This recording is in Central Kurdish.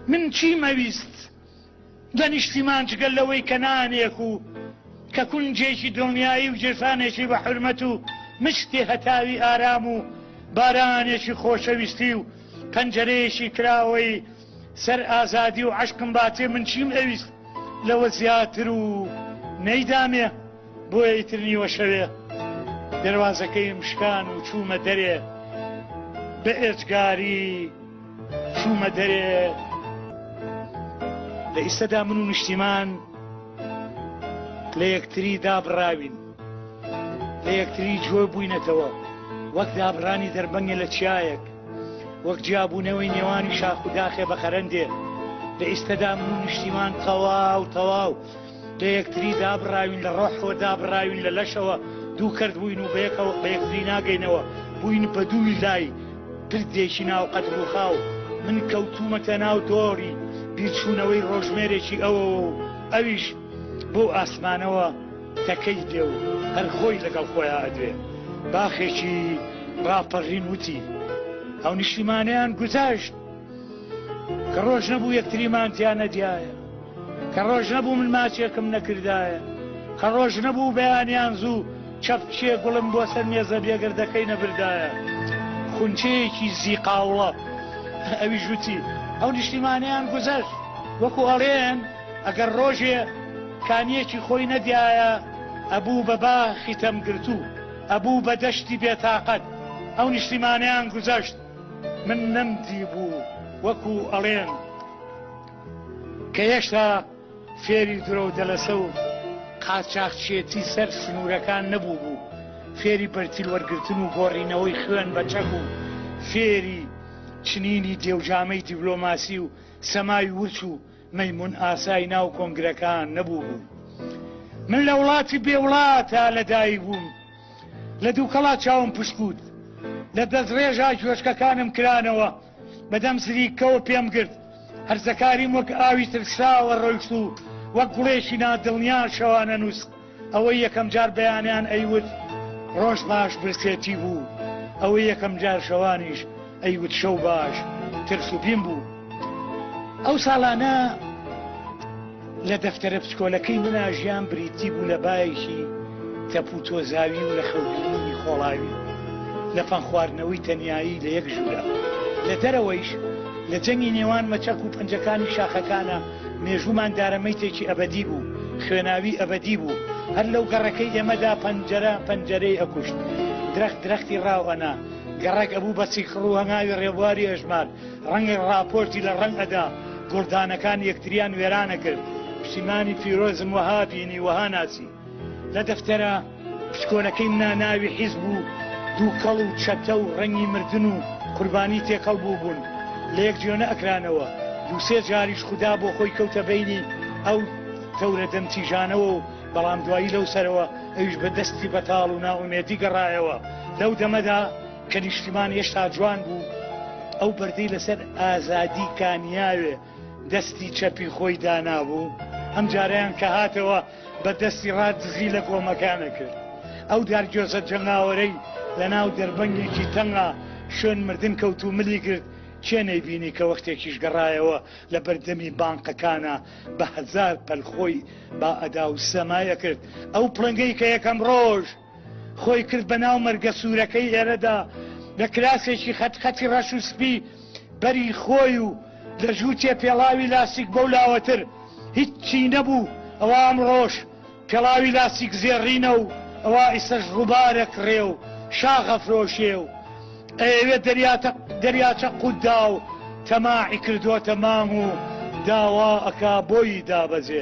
من چیم ئەویست لە نیشتیمان جگەل لەوەی کە نانێک و کە کونجێکی دڵنیایی و جێسانێکی بە حرمەت و مشتی هەتاوی ئارام و بارانێکی خۆشەویستی و پەنجەرەیەکی کراوەی سەر ئازادی و عشقم باتێ من چیم ئەویست لەوە زیاتر و نەیدامێ بۆیە ئیترنیوە شەوێ دەواازەکەیم شکان و چوومە دەرێ بە ئێجگاری چوومە دەرێ لە ئیستەدا من و نیشتیمان لە یەکتری دابڕاوین لە یەکتری جۆ بووینەتەوە وەک دابڕانی دەربەنگێ لە چیایەک وەک جیابوونەوەی نێوانی شاخ و داخێ بە خەرندێ لە ئیستەدا من و نیشتیمان تەواو تەواو لە یەکتری دابڕاوین لە ڕۆحەوە دابڕاوین لە لەشەوە دوو کەرت بووین و بەیەکەوە بە یەکتری ناگەینەوە بووین بە دووی لای پردێکی ناو قەت ڕووخاو من کەوتومەتە ناو دۆڕی بیرچوونەوەی ڕۆژمێرێکی ئەوەوە و ئەویش بۆ ئاسمانەوە تەکەی دێ و هەر خۆی لەگەڵ خۆیان ئەدوێ باخێکی ڕاپەڕین وتی ئەو نیشیمانیان گوزەشت کە ڕۆژ نەبوو یەکتریمان تیا نەدیایە کە ڕۆژ نەبوو من ماچێکم نەکردایە کە ڕۆژ نەبوو بەیانیان زوو چەپکێ گوڵم بۆ سەر مێزە بێگەردەکەی نەبردایە خونچەیەکی زیقاوڵە ئەوی ژووتی ئەو نیشتیمانیان گوزەشت وەکو ئەڵێن ئەگەر ڕۆژێ کانیەکی خۆی نەدیایە ئەبوو بە باخی تەمگرتوو ئەبوو بە دەشتی بێتاقەت ئەو نیشتیمانیان گوزەشت من نەمدی بوو وەکو ئەڵێن کە هێشتا فێری درۆو دەلەسە و قاچاخچێتی سەر سنوورەکان نەبووبوو، فێری بەرتیل وەرگرتن و گۆڕینەوەی خوێن بە چەک و فێری چنینی دێوجامەی دیبلۆماسی و سەمای ورچ و مەیمون ئاسای ناو کۆنگرەکان نەبووبوو. من لە وڵاتی بێ وڵاتا لە دایک بووم، لە دووکەڵا چاوم پشکووت، لە دەستڕێژا گوێچکەکانم کرانەوە، بەدەم سریککەوە پێم گرت. هەرزەکاریم وەک ئاوی ترساوە ڕۆیشت و وەک گوڵێکی نادڵنیا شەوانە نووست. ئەوەی یەکەمجار بەیانیان ئەیوت ڕۆژ باش برسێتی بوو. ئەوەی یەکەمجار شەوانیش ئەیوت شەو باش ترس و بیم بوو. ئەو ساڵانە. لە دەفتەرە پچکۆلەکەی منا ژیان بریتی بوو لە بایەکی تەپ و تۆزاوی و لە خەوبینینی خۆڵاوی لە پەن خواردنەوەی تەنیایی لە یەک ژوورە لە دەرەوەیش لە جەنگی نێوان مەچەک و پەنجەکانی شاخەکانە مێژوومان دارە مەیتێکی ئەبەدی بوو خوێناوی ئەبەدی بوو هەر لەو گەڕەکەی ئێمەدا پەنجەرە پەنجەرەی ئەکوشت درەخت درەختی ڕاو ئەنا گەڕەک ئەبوو بە سیکڕ و هەنگاوی ڕێبواری ئەژمار ڕەنگە ڕاپۆرتی لە ڕەنگ ئەدا گوڵدانەکان یەکتریان وێرانە کرد پشیمانی پیرۆزم وەها بینی وەها ناسی لە دەفتەرە پشکۆنەکەی منا ناوی حیزب و دووکەڵ و چەتە و ڕەنگی مردن و قوربانی تێکەڵ بوو بوون لە یەک جوێ نەئەکرانەوە دووسێ جاریش خودا بۆ خۆی کەوتە بەینی ئەو تەورە دەم تیژانەوە و بەڵام دوایی لەو سەرەوە ئەویش بە دەستی بەتاڵ و نائومێدی گەڕایەوە لەو دەمەدا کە نیشتیمان هێشتا جوان بوو، ئەو بەردەی لەسەر ئازادی کانیاوێ دەستی چەپی خۆی دانابوو، ئەم جارەیان کە هاتەوە بە دەستی ڕا دزی لە گۆمەکانە کرد. ئەو دارگوێزە جەنگاوەرەی لە ناو دەربەنگێکی تەنگا شوێن مردن کەوت و ملی گرت، کێ نەیبینی کە وەختێکیش گەڕایەوە لە بەر دەمی بانقەکانا بە هەزار پەل خۆی با ئەدا و سەمای ئەکرد ئەو پڵنگەی کە یەکەم ڕۆژ خۆی کرد بە ناو مەرگە سوورەکەی ئێرەدا، لە کراسێکی خەت خەتی ڕەش و سپی بەری خۆی و لە ژووتێ پێڵاوی لاستیک بەو لاوەتر هیچی نەبوو، ئەوە ئەمڕۆش پێڵاوی لاستیک زێڕینە و ئەوە ئیستەش ڕووبارە کڕێ و شاخ ئەفرۆشێ و ئەیەوێ دەریاتە دەریاچە قووتدا و تەماعی کردۆتە مام و داوا ئەکا بۆیی دابەزێ.